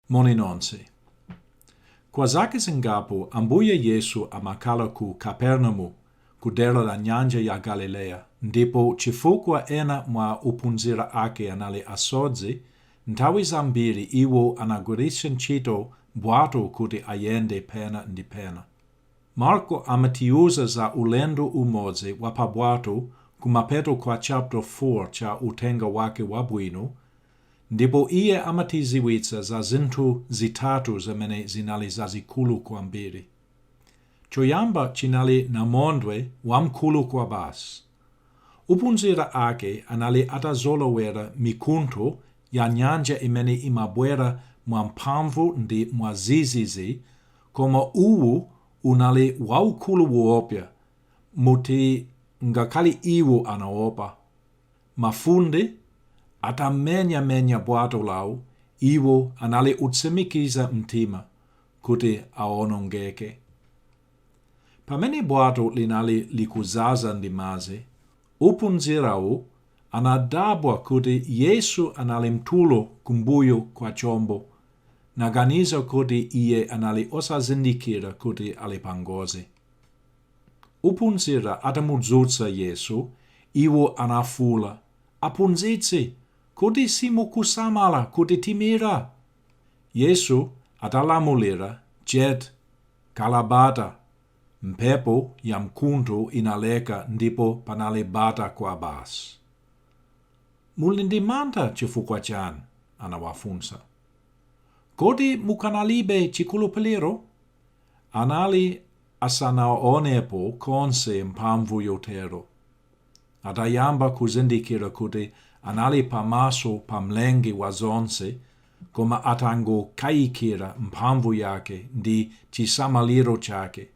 Moni nonse. Kwa zaka zingapo Ambuye Yesu amakhala ku Kapernamu ku dera la Nyanja ya Galileya ndipo chifukwa ena mwa ophunzira ake anali asodzi, nthawi zambiri iwo anagwiritsa ntchito bwato kuti ayende pena ndi pena. Marko amatiuza za ulendo umodzi wa pa bwato kumapeto kwa chaputa 4 cha Uthenga wake Wabwino Ndipo iye amatidziwitsa za zinthu zitatu zimene zinali zazikulu kwambiri. Choyamba chinali namondwe wamkulu kwabasi. Ophunzira ake anali atazolowera mikuntho ya nyanja imene imabwera mwamphamvu ndi mwadzidzidzi koma uwu unali waukulu woopsa moti ngakhale iwo anaopa. Mafunde atamenyamenya bwato lawo, iwo anali otsimikiza mtima kuti awonongeke. Pamene bwato linali likudzaza ndi madzi, ophunzirawo anadabwa kuti Yesu anali mtulo kumbuyo kwa chombo naganiza kuti iye anali osazindikira kuti ali pangozi. Ophunzira atamudzutsa Yesu, iwo anafuula, Aphunzitsi, kodi simukusamala kuti timira? Yesu atalamulira chete, khala bata, mphepo yamkuntho inaleka ndipo panali bata kwabasi. Muli ndi mantha chifukwa chani? anawafunsa. Kodi mukanalibe chikhulupiliro? Anali asanaonepo konse mphamvu yotero. Atayamba kuzindikira kuti anali pamaso pa Mlengi wa zonse koma atangokayikira mphamvu yake ndi chisamaliro chake,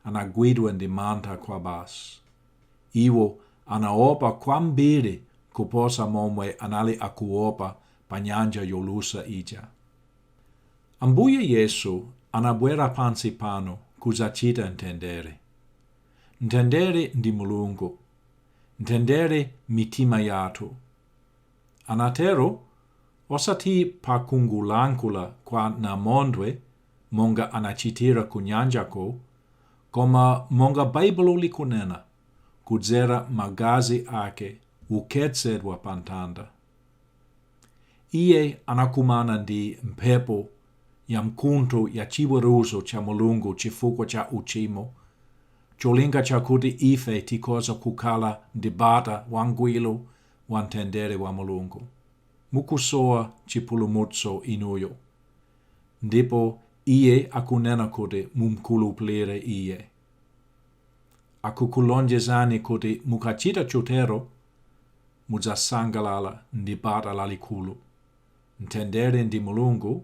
anagwidwa ndi mantha kwabasi. Iwo anaopa kwambiri kuposa momwe anali akuopa pa nyanja yolusa ija. Ambuye Yesu anabwera pansi pano kudzachita mtendere. Mtendere ndi Mulungu. Mtendere mmitima yathu. Anatero, osati pa kungolankhula kwa namondwe monga anachitira ku nyanjako, koma monga Baibulo likunena, kudzera Magazi Ake wokhetsedwa pa Mtanda. Iye anakumana ndi mphepo yamkuntho ya chiweruzo cha Mulungu chifukwa cha uchimo, cholinga chakuti ife tikhoza kukhala ndi bata wangwiro wa mtendere wa Mulungu. Mukusowa chipulumutso inuyo, ndipo Iye akunena kuti mumkhulupilire Iye. Akukulonjezani kuti mukachita chotero, mudzasangalala ndi bata lalikulu, mtendere ndi Mulungu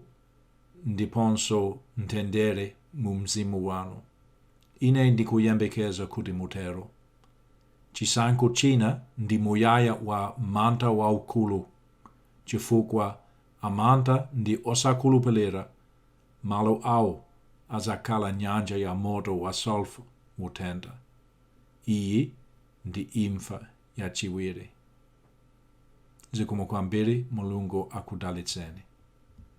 ndiponso mtendere mu mzimu wanu. Ine ndikuyembekeza kuti mutero. Chisankho china ndi muyaya wa mantha waukulu chifukwa amantha ndi osakhulupilira malo awo adzakhala nyanja ya moto wa sulfure motentha. Iyi ndi imfa yachiwiri. Zikomo kwambiri Mulungu akudalitseni.